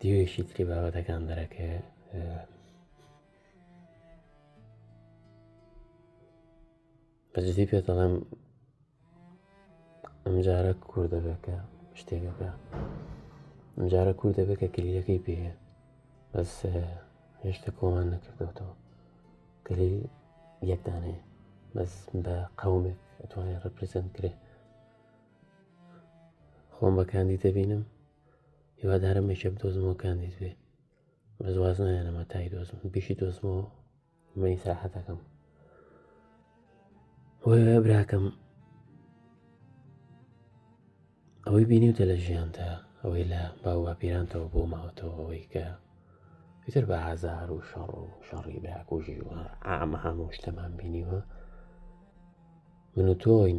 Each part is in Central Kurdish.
دیوێکی تری بابەتەکان دەرەکە بەجددی پێ دەڵێم ئەمجارە کوور دەبێتکە شتێکەکە ئەمجارە کوور دەبێت کە کلیلەکەی پێ بەس هێشتا کۆمان نەکردوێتەوە کلیل یەکدانێ بەس بە قومێک ئەتوانێت ڕپرزنت کرێت خۆم بە کاندید دەبینم هیوادارم میشە بدۆزمەوە کاندید بێ بەس واز نایەنەمە تای دۆزم بیشی دۆزمەوە مەی ساحەتەکەم وە براکەم ئەوەی بینیوتە لە ژیانتە ئەوەی لە باوە پیرانتەوە بۆ ماوەتەوە ئەوەی کە پێتر بە هازار و شەڕ و شەڕی براکوژی و ئامە هەموو شتەمان بینیوە من و تۆین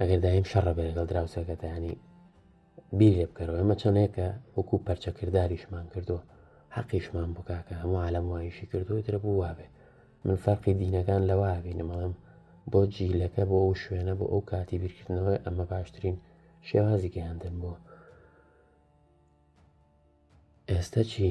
ئەگەر دایم شەڕە بێ لەگەڵ دراوسەکەتە ینی بیر لێ بکەرەوە ئەمە چۆنێکە وەکو پەرچەکردداریشمان کردووە حەقیشمان بکاکە هەموو عالم وایشی کردووە درە بوو وابێ من فەرقی دینەکان لەوا بینەمەڵم بۆ جیلەکە بۆ ئەو شوێنە بۆ ئەو کاتی بیرکردنەوەی ئەمە باشترین شێوازی گەیاندن بووە ئێستا چی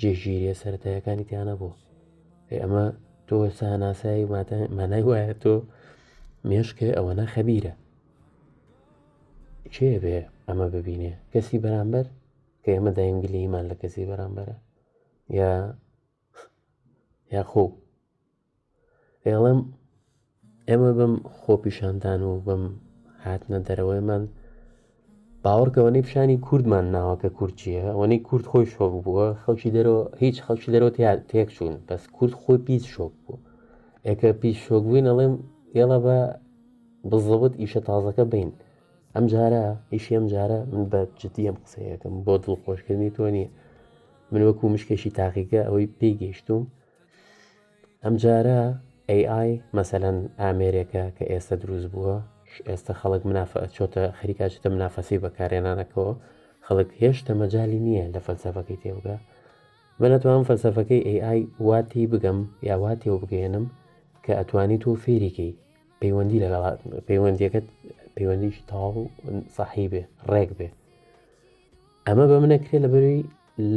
جێگیریە سەتایەکانی تیانە بوو ئێ ئەمە تۆ سا ناسایی مانای وایە تۆ مێشکێ ئەوەنە خەبیرە کێ بێ ئەمە ببینێ کەسی بەرامبەر کە ئێمە داینگلیمان لە کەسی بەرامبەرە یا یا خۆ ئێڵم ئێمە بەم خۆپیشاندان و بەم هاتنە دەرەوەیمان باوەڕکەوەی پیشانی کوردمان ناوەکە کورچیە ئەوەی کورد خۆی شۆک بووە خەڵکی دەرەوە هیچ خەڵکی دەرەوە تێک چوون بەس کورد خۆی پیس شۆک بوو ئێکە پیس شۆک بووین ئەڵێم ئێڵە بە بزەوت ئیشە تازەکە بین ئەم جارە ئیشی ئەم جارە من بە جددی ئەم قسەیەکەم بۆ دڵخۆشکردنی تۆ نیە من وەکو مشکێکی تاقیگە ئەوەی پێی گەیشتوم ئەم جارە ئەی ئای مەسەلەن ئامێرێکە کە ئێستا دروست بووە ئێستا خەڵک منافە چۆتە خەریکا چتە منافەسی بەکارێنانەکەەوە خەڵک هێشتە مەجای نییە لە فەلسەفەکەی تێوگە من ئەتوانم فەلسەفەکەی ئەی ئای واتی بگەم یاواتی و بگەێنم کە ئەتوانی تۆ فێریکەی پەیوەندی لەگەڵ پەیوەندیەکەت پەیوەندیش تاو سەحی بێ ڕێک بێ ئەمە بە منەکرێ لە بەروی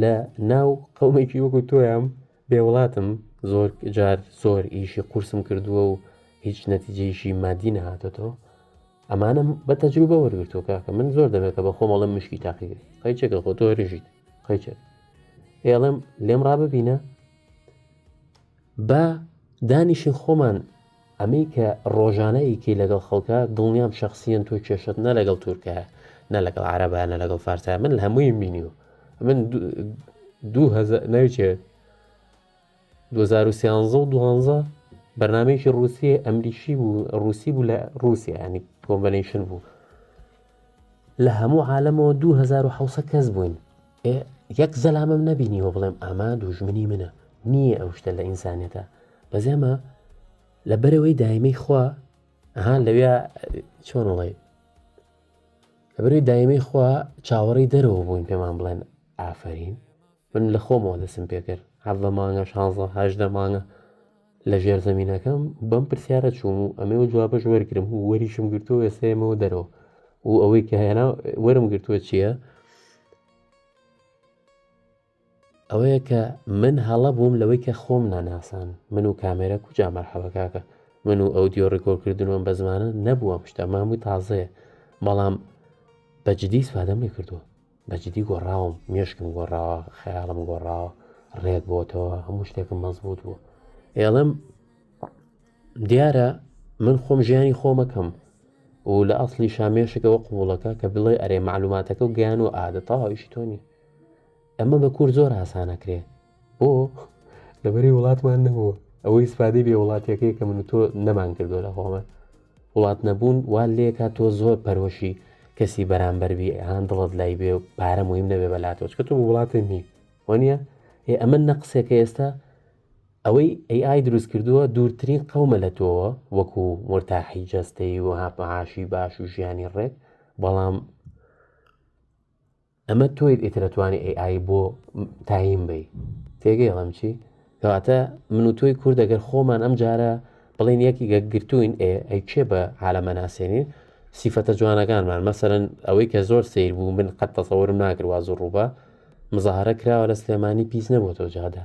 لە ناو قەومێکی وەکو تۆیان بێ وڵاتم زۆر جار زۆر ئیشی قورسم کردووە و هیچ نەتیجەیشی مادی نەهاتێتەوە ئەمانم بە تەجروبە وەرگتووە کاکە من زۆر دەمێکە بە خۆمەڵم مشکی تاقی بێت قەیچێکە خۆ تۆ رژیت قەیچێک ئێڵم لێم ڕاببینە بە دانیشین خۆمان ئەمەی کە ڕۆژانە ئەیکەی لەگەڵ خەڵکا دڵنیام شخصیەن تۆ کێشەت نە لەگەڵ تورکە نە لەگەڵ عربە نە لەگەڵ فارسە من هەمووی بینیوە من ناوچێت 2013 و دوانزە بەرنمەیەکی رووسیە ئەمریکی بوو رووسی بوو لە رووسیا ینی کۆمبەنیشن بوو لە هەموو عاالمەوە 2006 کەس بووین ئێ یەک زەلامم نەبینیوە بڵێم ئەمە دووژمنی منە نییە ئەو شتە لە ئینسانیەتە بەس ئێمە لە بەرەوەی دایمەی خوا ئەها لەوێ چۆن وڵێ لە بەرەوەی دایمەی خوا چاوەڕی دەرەوە بووین پێمان بڵێن ئافرین من لە خۆمەوە دەسم پێکرد هەڤە مانگە شانزە هەشدە مانگە لە ژێرزەمینەکەم بەم پرسیارە چووم و ئەمێ و جوابش وەرگرم و وەریشم گرتو وێستێمەوە دەرەوە و ئەوەی کە هێنا وەرم گرتووە چییە؟ ئەوەیە کە من هەڵە بووم لەوەی کە خۆم ناناسان من و کامێرە کوجا مەرحەبەکەکە من و ئەو دیۆ ڕێکۆرکردنەوەم بە زمانە نەبووە شتە مامووی تازەیە بەڵام بەجددی سوادەم لێ کردووە بەجدی گۆڕاوم مێشکم گۆڕاوە خەیاڵم گۆڕاوە ڕێک بۆتەوە هەموو شتێکم مەزبوط بوو ئێڵم دیارە من خۆم ژیانی خۆمەکەم و لە ئەاصلی شامێشکەوە قوڵەکە کە بڵێ ئەرێ معلوماتەکە و گیان و ئادە تەواویشی تۆنی ئەمە بە کور زۆر ئاسانەکرێ بۆ لەبەری وڵاتمان نەبووە ئەوەی سپادی بێ وڵاتیەکەی کە من تۆ نەمان کردو لە خۆمان وڵات نەبوون وا لێکا تۆ زۆر پەرۆشی کەسی بەرامبەربی هاان دڵت لای بێ و پارە مهم نەبێ بەلاتۆچ کە تۆ وڵاتە نی وەنیە ئێ ئەمە نە قسێکە ئێستا ئەوەی ئەی ئای دروست کردووە دوورترین قەومە لە تۆوە وەکو مرتاحی جەستەی و هاپەهاشی باش و ژیانی ڕێک بەڵام ئەمە تۆیت ئیتر ئەتوانی ئەی ئای بۆ تایم بی تێگەی ئەڵم چی کەواتە من و تۆی کورد دەگەر خۆمان ئەم جارە بڵێن یەکی گەگرتوین ئێ ئەی کێ بە عالەمە ناسێنین سیفەتە جوانەکانمان مەسەرەن ئەوەی کە زۆر سیر بوو من قەت تەسەورم ناکرد واز و ڕووبە مزاهرە کراوە لە سلێمانی پیس نەبووەوە جادە